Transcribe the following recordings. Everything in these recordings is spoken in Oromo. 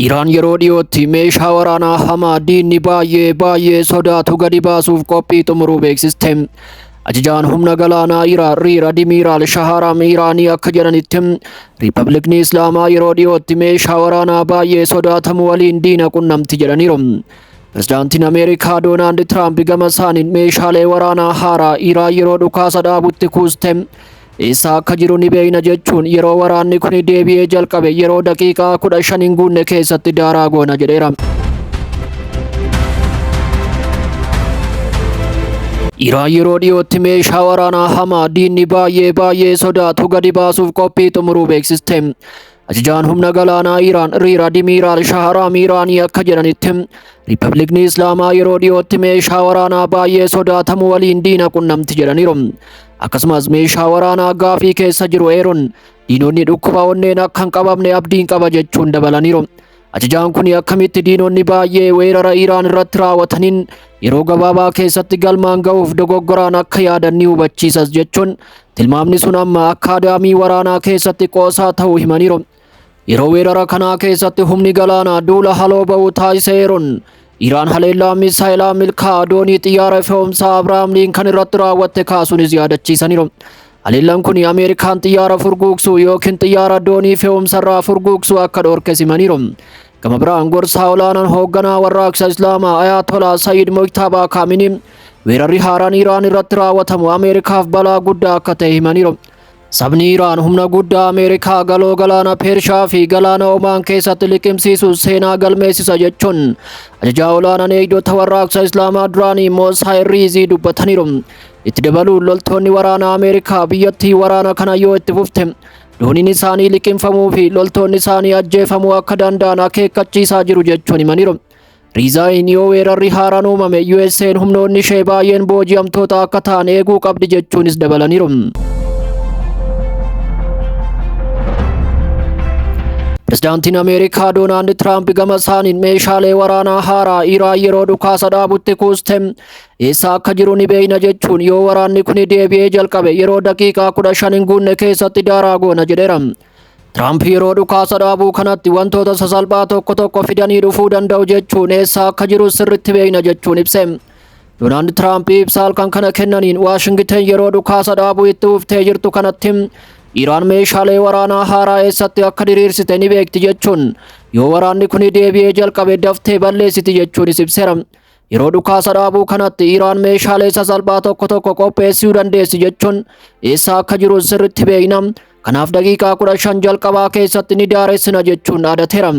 Iraan yeroo dhiyootti meeshaa waraanaa hamaa diinni baay'ee baay'ee sodaatu gadi baasuuf qophii xumuruu beeksiste. Ajajaan humna galaanaa Iraan Riir Admiiraal Shaharaam Iraanii akka jedhanitti Riippabliikni Islaamaa yeroo dhiyootti meeshaa waraanaa baay'ee sodaatamu waliin diina qunnamti jedhaniiru. Pirezidaantiin Ameerikaa Doonaald Tiraamp gama isaaniin meeshaalee waraanaa haaraa Iraan yeroo dhukaasa dhaabutti kuuste Eessa akka jiru ni beekna jechuun yeroo waraanni kun deebi'ee jalqabe yeroo daqiiqaa kudha shan hin guunne keessatti daaraa goona jedheera. Iraan yeroo dhiyootti meeshaa waraanaa hamaa diinni baay'ee baay'ee sodaatu gadi baasuuf qophii xumuruu beeksiste. Ajajaan humna galaanaa Iraan Riir Admiiraal Shaharaam Iraanii akka jedhanitti Riippabliikni Islaamaa yeroo dhiyootti meeshaa waraanaa baay'ee sodaatamu waliin diina qunnamti jedhaniiru. Akkasumas meeshaa waraanaa gaafii keessa jiru eeruun diinonni dhukkuba onneen akka hin qabamne abdiin qaba jechuun dabalaniiru. Ajajaan kun akkamitti diinonni baay'ee weerara Iraan irratti raawwataniin yeroo gabaabaa keessatti galmaan ga'uuf dogoggoraan akka yaadan ni hubachiisas jechuun tilmaamni sun amma akkaadaamii waraanaa keessatti qoosaa ta'uu himaniiru. Yeroo weerara kanaa keessatti humni galaanaa duula haloo ba'u taasiseeruun Iraan haleellaa misaayilaa milkaa'aa doonii xiyyaara fe'umsaa Abiraam Liinkan irratti raawwatte kaasuunis yaadachiisaniiru. Haleellaan kun Ameerikaan xiyyaara furguugsuu yookiin xiyyaara doonii fe'umsarraa furguugsuu akka dhoorke simaniiru. Gama biraan gorsaa olaanaan hoogganaa warraaqsa Islaamaa Ayaatolaa Sayyid Mojtabaa Kaaminii weerarri haaraan Iraan irratti raawwatamu Ameerikaaf balaa guddaa akka ta'e himaniiru. Sabni Iraan humna guddaa Ameerikaa galoo galaana Pershaa fi galaana Omaan keessatti liqimsiisu seenaa galmeessisa jechuun ajajaa olaanaan eegdota warraaqsa Islaamaa duraanii Moosaa Irriizii dubbataniiru. Itti dabaluun loltoonni waraanaa Ameerikaa biyyattii waraana kana yoo itti fufte dooniin isaanii liqimfamuu fi loltoonni isaanii ajjeefamuu akka danda'an akeekkachiisaa jiru jechuun himaniiru. Riizaayin yoo weerarri haaraan uumame USA'n humnoonni ishee baay'een booji'amtoota akka ta'an eeguu qabdi jechuunis dabalaniiru. Pirezidaantiin Ameerikaa Doonaald Tiraamp gama isaaniin meeshaalee waraanaa haaraa Iraan yeroo dhukaasa dhaabutti kuuste eessa akka jiru ni beekna jechuun yoo waraanni kun deebi'ee jalqabe yeroo daqiiqaa kudha shan hin guunne keessatti daaraa goona jedheera. Tiraamp yeroo dhukaasa dhaabuu kanatti wantoota sasalphaa tokko tokko fidanii dhufuu danda'u jechuun eessaa akka jiru sirritti beekna jechuun ibse. Doonaald Tiraamp ibsa halkan kana kennaniin Waashingiten yeroo dhukaasa dhaabuu itti uftee jirtu kanatti Iraan meeshaalee waraanaa haaraa eessatti akka diriirsite ni beekti jechuun yoo waraanni kun deebi'ee jalqabe daftee balleessiti jechuunis ibseera. Yeroo dhukaasa dhaabuu kanatti Iraan meeshaalee sasalphaa tokko tokko qopheessuu dandeessi jechuun eessa akka jiru sirritti beekna. Kanaaf daqiiqaa 15 jalqabaa keessatti ni daaressina jechuun dhaadateera.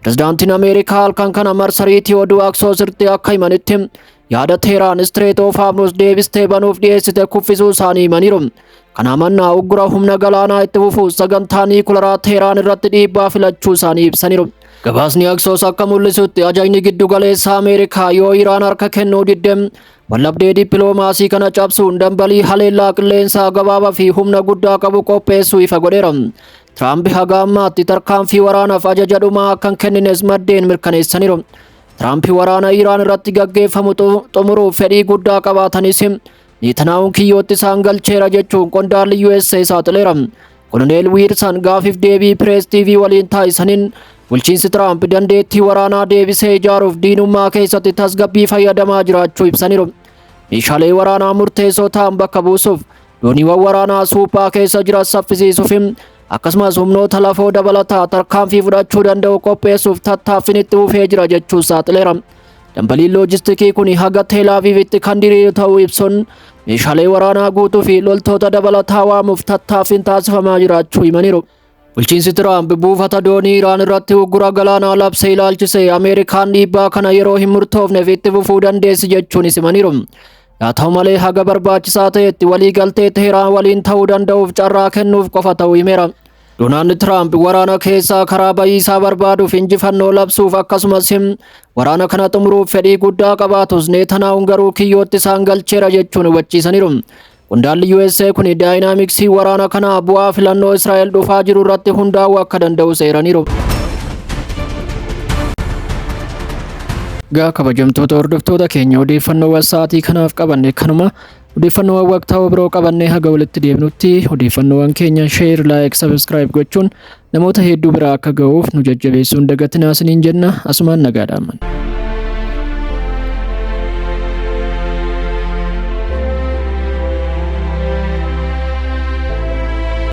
Pirezidaantiin Ameerikaa halkan kana marsariitii oduu Aksoosirti akka himanitti yaada Teeraan Istireet oof Haarmus deebistee banuuf dhiyeessite kuffisuu isaanii himaniiru. Kanaa mannaa uggura humna galaanaa itti fufu sagantaa niikularaa Teeraan irratti dhiibbaa filachuu isaanii ibsaniiru. Gabaasni Aksoos akka mul'isutti ajajni giddu galeessa Ameerikaa yoo Iraan harka kennuu didde wallabdee dippiloomaasii kana cabsuun dambalii haleellaa qilleensaa gabaabaa fi humna guddaa qabu qopheessuu ifa godheera. Tiraamp haga ammaatti tarkaanfii waraanaaf ajaja dhumaa akka hin kennines maddeen mirkaneessaniiru. Tiraamp waraana Iraan irratti gaggeeffamu xumuruuf fedhii guddaa qabaatanis Neetanaa'uun kiyyootti isaan galcheera jechuun qondaalli USA saaxileera. Koloneel Wiirsan gaafiif deebii Pirees TV waliin taasisaniin bulchiinsi Tiraamp dandeettii waraanaa deebisee ijaaruuf diinummaa keessatti tasgabbii fayyadamaa jiraachuu ibsaniiru. Meeshaalee waraanaa murteessoo ta'an bakka buusuuf dooniiwwan waraanaa suuphaa keessa jiran saffisiisuuf akkasumas humnoota lafoo dabalataa tarkaanfii fudhachuu danda'u qopheessuuf tattaaffiin itti fufee jira jechuun saaxileera. Dambaliin loojistikii kun haga Teelaaviivitti kan diriiru ta'uu ibsuun meeshaalee waraanaa guutuu fi loltoota dabalataa waamuuf tattaaffiin taasifamaa jiraachuu himaniiru. Bulchiinsi Tiraamp buufata doonii Iraan irratti uggura galaanaa labsee ilaalchisee Ameerikaan dhiibbaa kana yeroo hin murtoofneef itti fufuu dandeessi jechuunis himaniiru. Haa ta'u malee haga barbaachisaa ta'etti waliigaltee Teheraan waliin ta'uu danda'uuf carraa kennuuf qofa ta'uu himeera. Donaald Tiraamp waraana keessaa karaa bayiisaa barbaaduuf injifannoo labsuuf akkasumas waraana kana xumuruuf fedhii guddaa qabaatus Neetanaahun garuu kiyyootti isaan galcheera jechuun hubachiisaniiru. Qondaalli USA kun daayinaamiksii waraana kanaa bu'aa filannoo Israa'el dhufaa jiru irratti hundaa'uu akka danda'u seeraniiru. Gaa kabajamtoota hordoftoota keenya odeeffannoo wasaatii kanaaf qabanne kanuma Odeeffannoowwan waqtaawoo biroo qabannee haga walitti deebinutti odeeffannoowwan keenya share, like, subscribe gochuun namoota hedduu biraa akka ga'uuf nu jajjabeessuun dagatinaa isiniin jenna asumaan nagaa dhaammanna.